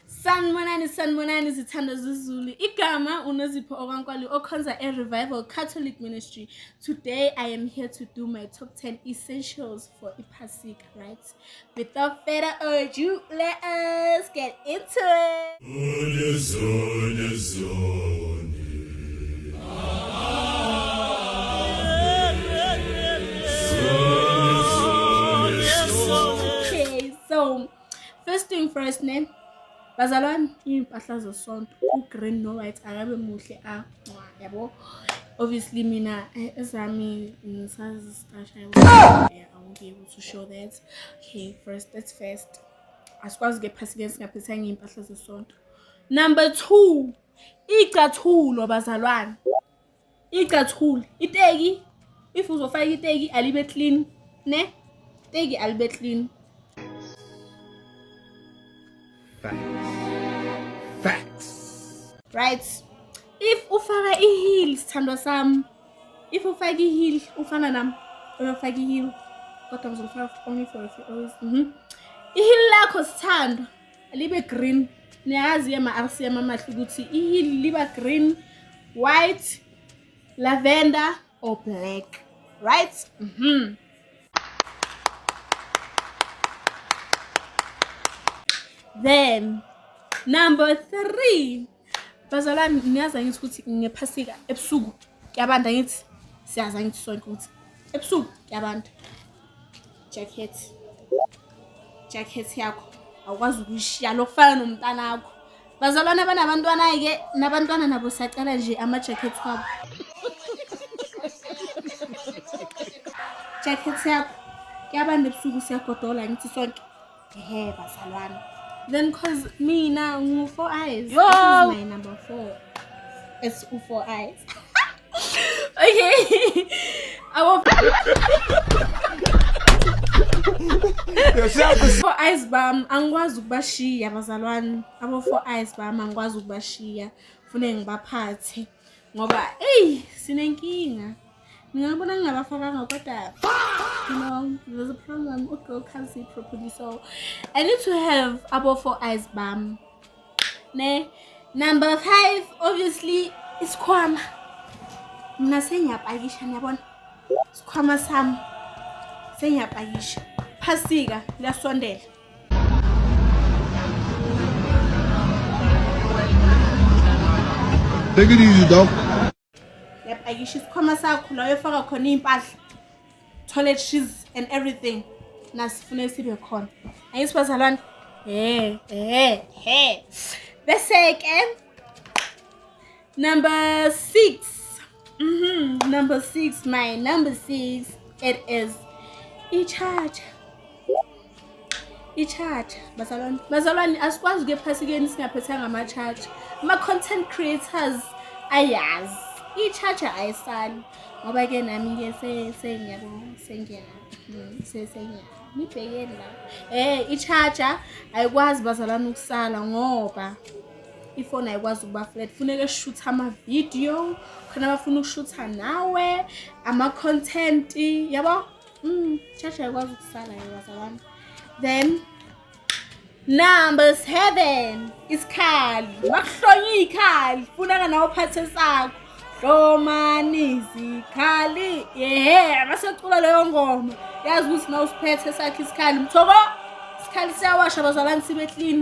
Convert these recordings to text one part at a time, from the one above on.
sanibonani sanibonani zithanda zezulu igama unozipho okwankwali okhonza e-revival catholic ministry today i am here to do my top 10 essentials for iphasika right without further ado let us get into it First thing first ne bazalwane iy'mpahla zesonto u-green no-white akabe muhle a yabo obviously mina eh, ezami ngisazistasha yabo awuke ukuthi ushow that okay first that's first asikwazi ke phasi ke singaphethanga iy'mpahla zesonto number two iy'cathulo bazalwane icathuli iteki if uzofaka iteki alibe clean ne teki alibe clean facts facts right if ufaka iheel sithandwa sami if ufaka iheel ufana nami uyofaka iheel kodwa ngizofaka only for a few hours mhm iheel lakho sithandwa libe green niyazi yema-rcm amahle ukuthi ihili liba green white lavender or black right mm -hmm. then number three bazalwane niyazi angithi ukuthi ngephasika ebusuku kuyabanda angithi siyazi angithi sonke ukuthi ebusuku kuyabanda jacket jacket yakho awukwazi ukuyishiya lokufana nomntana wakho bazalwane abanabantwana ayike nabantwana nabo siyacela nje ama-jacket wabo jacket yakho kuyabanda ebusuku siyagodola ngithi sonke Ehe bazalwane. Then cause mina ngu four eyes. Yo! This is my number four. It's u four eyes. okay. Our four eyes bam angikwazi ukubashiya bazalwane. Abo four eyes bam angikwazi ukubashiya. Fune ngibaphathe ngoba eyi sinenkinga. ngingabona ngingabafakanga kodwa you know there's a problem ugirl can't see properly so i need to have abo four eyes bam ne number five obviously isikhwama mna sengiyapakisha niyabona isikhwama sami sengiyapakisha phasika liyasondela Take it easy, dog. uyapakisha isikhwama sakho la uyofaka khona iy'mpahla toilet shoes and everything nasifune sibe khona angithi bazalwane he he he bese-ke number six mm -hmm. number six my number six it is ichacha i-charger bazalwane bazalwane asikwazi ukuya ephasikeni singaphethanga ama-charger ama-content creators ayazi i-charger ayisali ngoba ke nami-ke sengiyabo sengiya mm, sengiya nibhekeni la um eh, i-charger ayikwazi bazalwane ukusala ngoba ifoni ayikwazi ukuba flat funeke shuthe amavidiyo khona abafuna ukushutha nawe ama-content yabo Mm, church ayikwazi ukusala yaza wami. Then number 7 isikhali. Makuhlonye ikhali. Funaka nawo phathe sakho. Hlomani izikhali. Yeah, masecula leyo ngoma. Yazi ukuthi na usiphethe sakhe isikhali. Mthoko isikhali siyawasha bazalani sibe clean.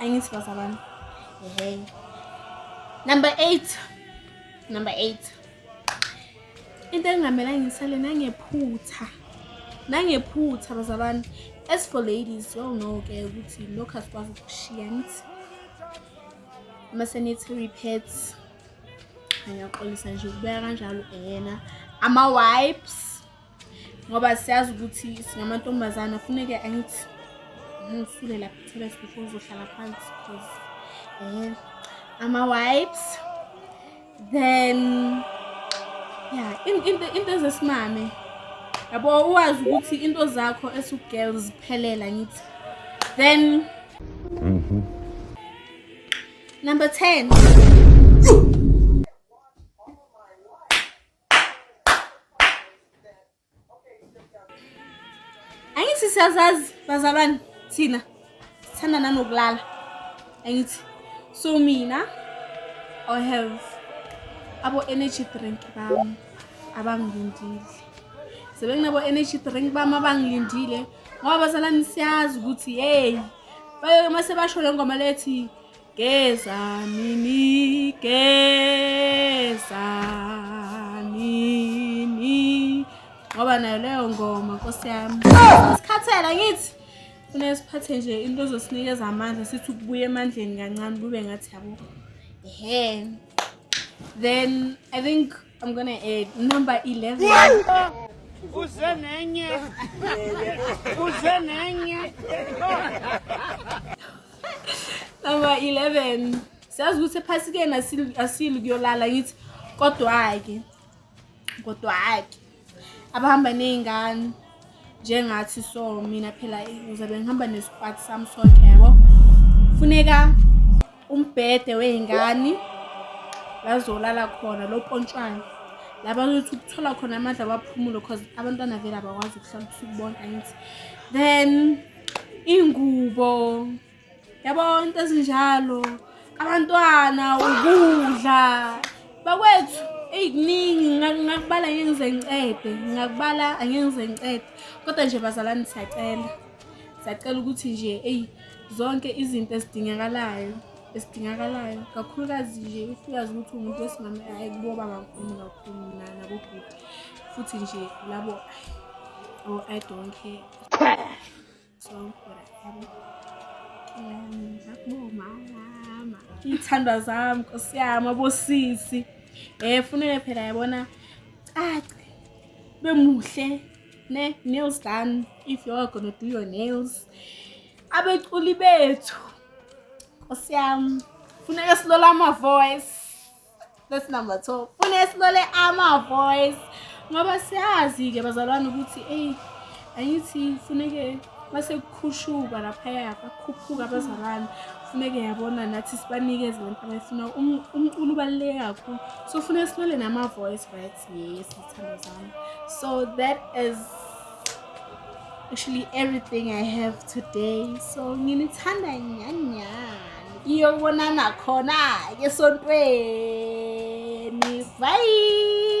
angithi bazalwane hey number 8 number 8 into engamela ngisale nangephutha nangephutha bazalwane as for ladies y'all know ke ukuthi lokhu asikwazi ukushiya nithi uma sanitary pads angiyaxolisa nje ukubeka kanjalo yena ama-wipes ngoba siyazi ukuthi singamantombazana funeke angithi ngisule lapha itholet before uzohlala phansi because um ama-wipes then ya into ezesimame yabo uwazi ukuthi into zakho esu-girl ziphelela ngithi then mhm. number ten angithi siyazazi bazalwane thina sithanda nanokulala angithi so mina i have abo-energy drink bami abangilindile sebenginabo-energy drink bami abangilindile ngoba bazalwane siyazi ukuthi yeyi bayoke uma sebasho le ngoma lethi Gezani nigezani ni ngoba nayo leyo ngoma nkosi yami sikhathela ngithi funeka siphathe nje into ezosinikeza amandla sithi ukubuya emandleni kancane kube ngathi yabo ehe then i think I'm gonna add number 11. Uze nenye. Uze nenye. Number 11. Siyazi ukuthi phasi kena asili kuyolala ngithi kodwa ke. Kodwa ke. Abahamba nezingane. njengathi so mina phela uzabe ngihamba nesikwati sami sonke yabo funeka umbhede wey'ngane lazolala khona lo pontshwana laba ukuthi ukuthola khona amandla abaphumulo cause abantwana vele abakwazi ukuhlala ubusuku bonke angithi then ingubo yabo into ezinjalo abantwana ukudla bakwethu eyi kuningi ngakubala angeke ngize ngiqede ngakubala angeke ngize ngiqede kodwa nje bazalwane siyacela siyacela ukuthi nje eyi zonke izinto ezidingakalayo esidingakalayo kakhulukazi nje uyazi ukuthi umuntu wesimame ayi kuboba kakhulu kakhulu nabobhuti futhi nje labo o-i oh, don't care iy'thandwa zami nkosi yami abosisi um eh, funeke phela yabona cace bemuhle ne nails done if you are gonna do your nails abeculi bethu nkosi yami funeka silola ama-voice That's number two. Funa esikole ama-voice ngoba siyazi-ke bazalwane ukuthi eyi angithi funeke masekukhushuka laphaya bakhuphuka abazalwane funeke yabona nathi sibanikeze lento abayifuna umculo ubaluleke kakhulu so funeke silole nama-voice right yes zithandwa zami so that is actually everything i have today so nginithanda nyanyani iyobonana khona-ke esontweni bye